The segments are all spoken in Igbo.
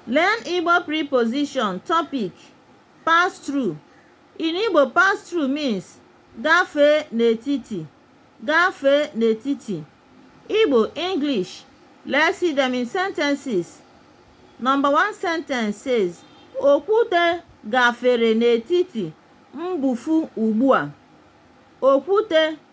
Learn Igbo preposition topic pass through. In Igbo, pass through means gafee n'etiti gafee n'etiti. Igbo English Let's see them in sentences. Number one sentence says Okwute gafere n'etiti mbufu ugbu a. Okwute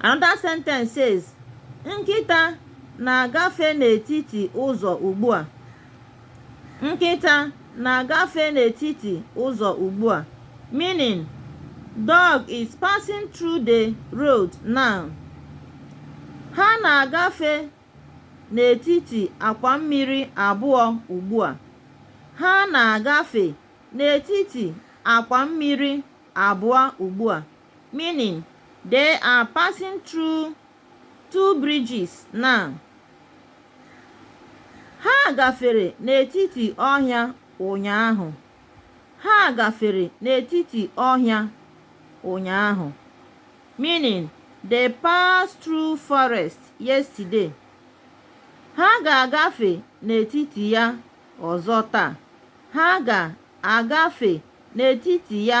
Another sentence says, Nkịta na-agafe n'etiti ụzọ ugbu a. Nkịta na-agafe n'etiti ụzọ ugbu a. Meaning, dog is passing through the road now. Ha na-agafe n'etiti akwa mmiri abụọ ugbu a. Ha na-agafe n'etiti akwa mmiri abụọ ugbu a. Meaning, They are passing through two bridges now. Ha gafere n'etiti ọhịa ụnyaahụ. Ha gafere n'etiti ọhịa ụnyaahụ. Meaning, They passed through forest yesterday. Ha ga-agafe n'etiti ya ọzọ taa. Ha ga-agafe n'etiti ya